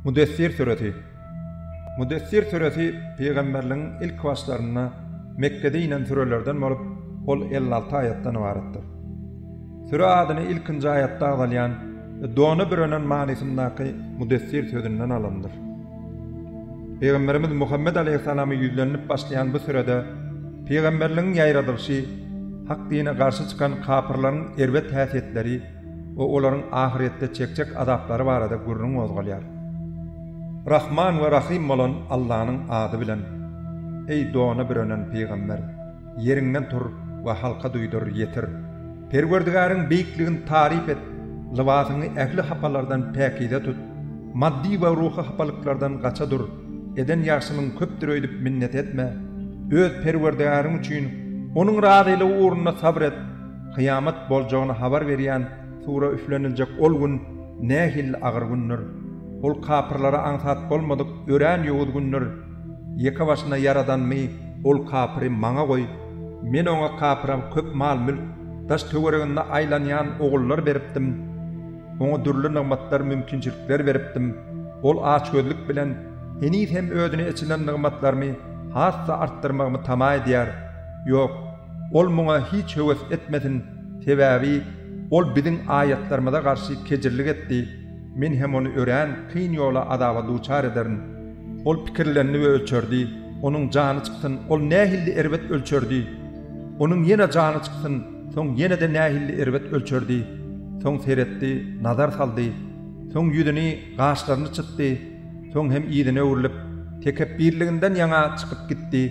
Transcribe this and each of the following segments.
Müdessir süresi Müdessir süresi pygamberligiň ilk başlarynda Mekgede inen sürelerden bolup, ol elli alty aýatdan ybaratdyr. Süre adyny ilkinji aýatda agzalýan we dona bürenen manysyndaky Müdessir sözünden alandyr. Pygamberimiz Muhammet aleýhissalama ýüzlenilip başlaýan bu sürede pygamberligiň ýaýradylyşy, hak dine garşy çykan kapyrlaryň erbet häsiýetleri we olaryň ahyrýetde çekjek azaplary barada gürrüň gozgalýar. Rahman we Rahym bolan Allanyň ady bilen, eý dona bürenen pygamber! Ýeriňden tur we halka duýdur, ýetir! Perwerdigäriň beýikligini taryp et, lybasyňy ähli hapalardan päkize tut, maddy we ruhy hapalyklardan gaça dur, eden ýagşylygyň köpdür öýdüp minnet etme, öz Perwerdigäriň üçin, Onuň razylygy ugrunda sabyr et, kyýamat boljagyny habar berýän sura üfleniljek ol gün nähili agyr gündür! Ol kapyrlara aňsat bolmadyk örän ýowuz gündür! Ýeke başyna ýaradanymy ol kapyry maňa goý, men oňa kapyra köp mal-mülk, daş-töwereginde aýlanýan ogullar beripdim. Oňa dürli nygmatlar, mümkinçilikler beripdim. Ol açgözlük bilen heniz hem özüne eçilen nygmatlarymy has-da artdyrmagymy tama edýär. Ýok, ol muňa hiç höwes etmesin, sebäbi ol biziň aýatlarymyza garşy kejirlik etdi, men hem ony örän kyn ýola azaba duçar ederin. Ol pikirlendi we ölçerdi, onuň jany çyksyn, ol nähilli erbet ölçerdi! Onuň ýene jany çyksyn, soň ýene-de nähilli erbet ölçerdi! Soň seretdi, nazar saldy, soň ýüzüni, gaşlaryny çytdy, soň hem yzyna öwrülip, tekepbirliginden ýaňa çykyp gitdi.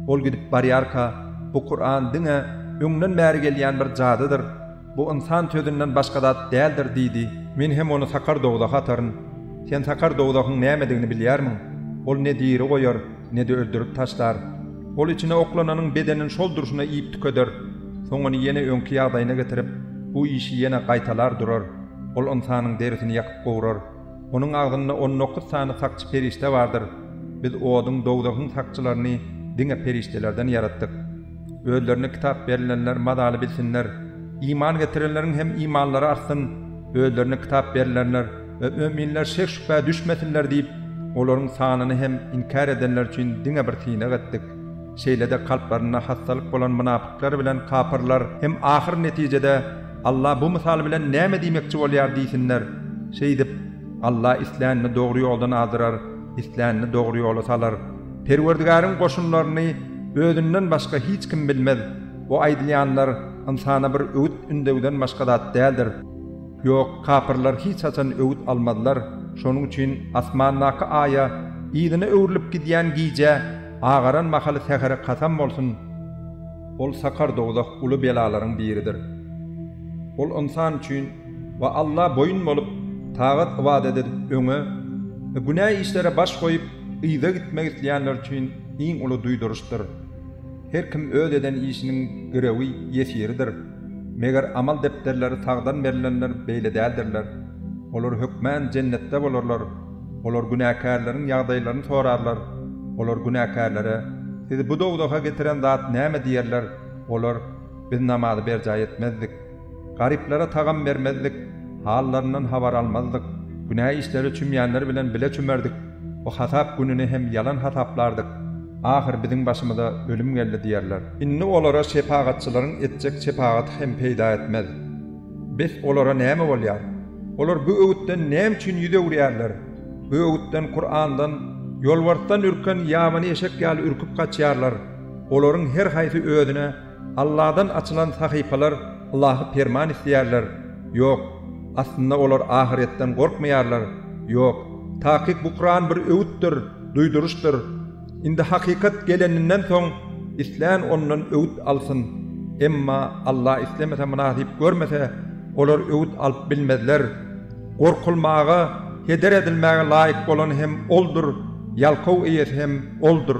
Ol gidip barýarka, Bu Kuran diňe öňden bäri gelýän bir jadydyr. Bu ynsan sözünden başga zat däldir diýdi. Men hem ony sakar dowzaha ataryn. Sen sakar dowzahyň nämedigini bilýärmiň? Ol ne diri goýar, ne-de öldürip taşlar. Ol içine oklananyň bedenini şol durşuna iýip tükeder. Soň ony ýene öňki ýagdaýyna getirip, bu işi ýene gaýtalar durar. Ol ynsanyň derisini ýakyp gowrar. Onuň agzynda on dokuz sany sakçy perişde bardyr. Biz oduň, dowzahyň sakçylaryny diňe perişdelerden ýaratdyk. Özlerine kitap berilenler mazaly bilsinler. Iman getirenleriň hem imanlary artsyn, özlerine kitap berilenler we möminler şek-şübhä düşmesinler diýip, olaryň sanyny hem inkär edenler üçin diňe bir synag etdik. Şeýle-de kalplarynda hassalyk bolan mynapyklar bilen kapyrlar hem ahyr netijede, Alla bu mysal bilen näme diýmekçi bolýar diýsinler. Şeýdip, Alla islänini dogry ýoldan azdyrar, islänini dogry ýola salar. Perwerdigäriň goşunlaryny Özünden başga hiç kim bilmez. Bu aýdylýanlar ynsana bir öwüt ündewden başga zat däldir. Ýok, kapyrlar hiç haçan öwüt almazlar. Şonuň üçin asmandaky Aýa, yzyna öwrülip gidýän gijä, agaran mahaly sähere kasam bolsun! Ol sakar dowzah uly belalaryň biridir. Ol ynsan üçin we Alla boýun bolup, tagat-ybadat edip, öňe we günä işlere baş goýup, yza gitmek isleýänler üçin iň uly duýduryşdyr. Her kim öz eden işiniň girewi, ýesiridir. Meger amal depderleri sagdan berlenler beýle däldirler. Olar hökmän Jennetde bolarlar. Olar günäkärleriň ýagdaýlaryny sorarlar. Olar günäkärlere, Sizi bu dowzaha getiren zat näme? diýerler. Olar, Biz namazy berjaý etmezdik. Garyplara tagam bermezdik. Hallaryndan habar almazdyk. Günä işlere çümýänler bilen bile çümerdik. Bu hasap gününi hem ýalan hasaplardyk. Ahyry biziň başymyza ölüm geldi diýerler. Indi olara şepagatçylaryň etjek şepagaty hem peýda etmez. Bes olara näme bolýar? Olar bu öwütden näme üçin ýüz öwürýärler? Bu öwütden, Kurandan, ýolbarsdan ürken ýabany eşek ýaly ürküp gaçýarlar. Olaryň her haýsy özüne Alladan açylan sahypalar ylahy perman isleýärler. Ýok, aslynda olar ahyretden gorkmaýarlar. Ýok, takyk bu Kuran bir öwütdir, duýduryşdyr. Indi hakykat geleninden soň islän ondan öwüt alsyn. Emma Alla islemese mynasyp görmese olar öwüt alyp bilmezler. Gorkulmaga, heder edilmäge laýyk bolan hem Oldur, ýalkaw eýesi hem Oldur.